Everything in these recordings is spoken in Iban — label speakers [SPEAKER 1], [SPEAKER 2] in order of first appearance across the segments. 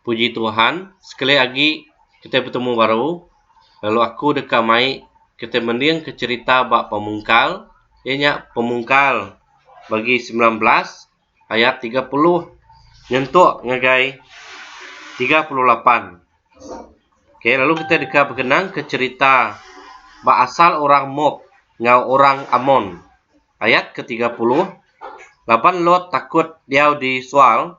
[SPEAKER 1] Puji Tuhan sekali agi kitai betemu baru lalu aku deka mai kitai mending ke cerita ba pemungkal iya nya pemungkal bagi sembilan belas ayat tiga puluh nyentuk ngagai tiga puluh lapan. Ok lalu kitai deka begenang ke cerita ba asal orang Mop enggau orang Amon. Ayat ke tiga puluh, Laban Lot takut diau di Soar,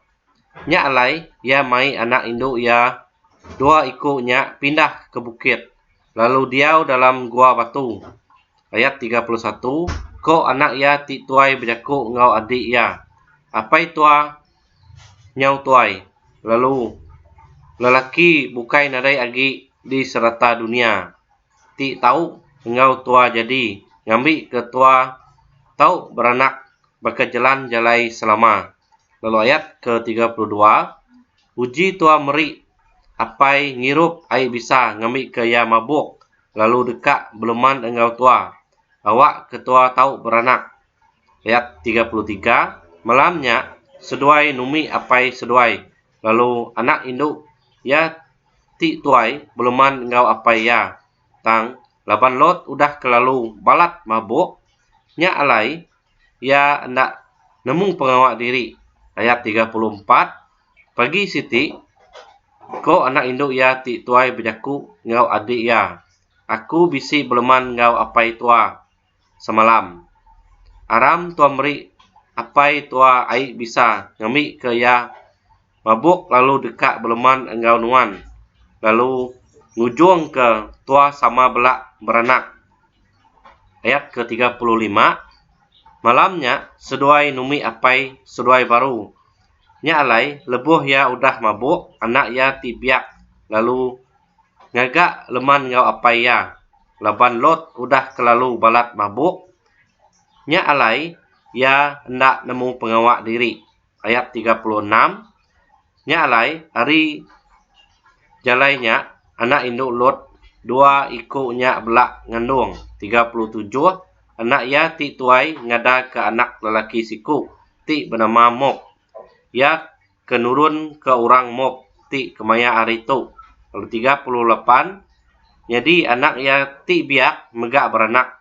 [SPEAKER 1] nya alai iya mai anak indu iya dua iku nya pindah ke bukit, lalu diau dalam gua batu. Ayat tiga puluh satu, Ko anak iya ti tuai bejaku enggau adi iya, Apai tua nyau tuai, lalu lelaki bukai nadai agi di serata dunia. ti tau enggau tua jadi ngambi ke tua tau beranak baka jelan jalai selama. Lalu ayat ke tiga puluh dua, Uji tua meri apai ngirup ai bisa ngambi ke iya mabuk lalu deka beleman enggau tua, awak ke tua tau beranak. Ayat tiga puluh tiga, Malam nya seduai numi apai seduai, lalu anak indu iya ti tuai beleman enggau apai iya tang laban Lot udah kelalu balat mabuk nya alai iya enda nemu pengawa diri ayat tiga puluh empat pagi siti ko anak indu iya ti tuai bejaku enggau adik iya aku bisi beleman enggau apai tua semalam. Aram tuan meri apai tua ai bisa ngambi ke iya mabuk lalu deka beleman enggau nuan lalu ngujung ke tua sama bela beranak. Ayat ke tiga puluh lima Malam nya seduai numi apai seduai baru. Nya alai lebuh iya udah mabuk anak iya ti biak lalu Ngaga leman enggau apai iya laban Lot udah kelalu balat mabuk. Nya alai iya enda nemu pengawa diri. Ayat tiga puluh enam Nya alai ari jalai nya anak indu Lot dua iku nya bela ngandung tiga puluh tujuh anak iya ti tuai ngadaka anak lelaki siku ti benama Mok. Iya ke nurun ke orang mop ti kemaya hari tu lalu tiga puluh lapan nyadi anak iya ti biak mega beranak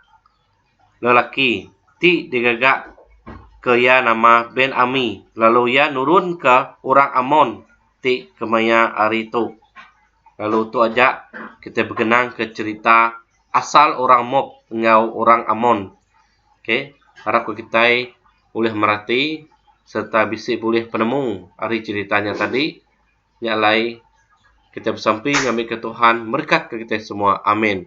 [SPEAKER 1] lelaki ti digaga ke iya nama Ben Ami lalu iya nurun ke orang Amon ti kemaya hari tu lalu tu aja kita begenang ke cerita asal orang mop enggau orang Amon. ok harap ku kitai ulih merati sereta bisi bulih penemu ari cherita nya tadi nya alai kitai besampi ngambika tuhan merekatka kitai semua amin.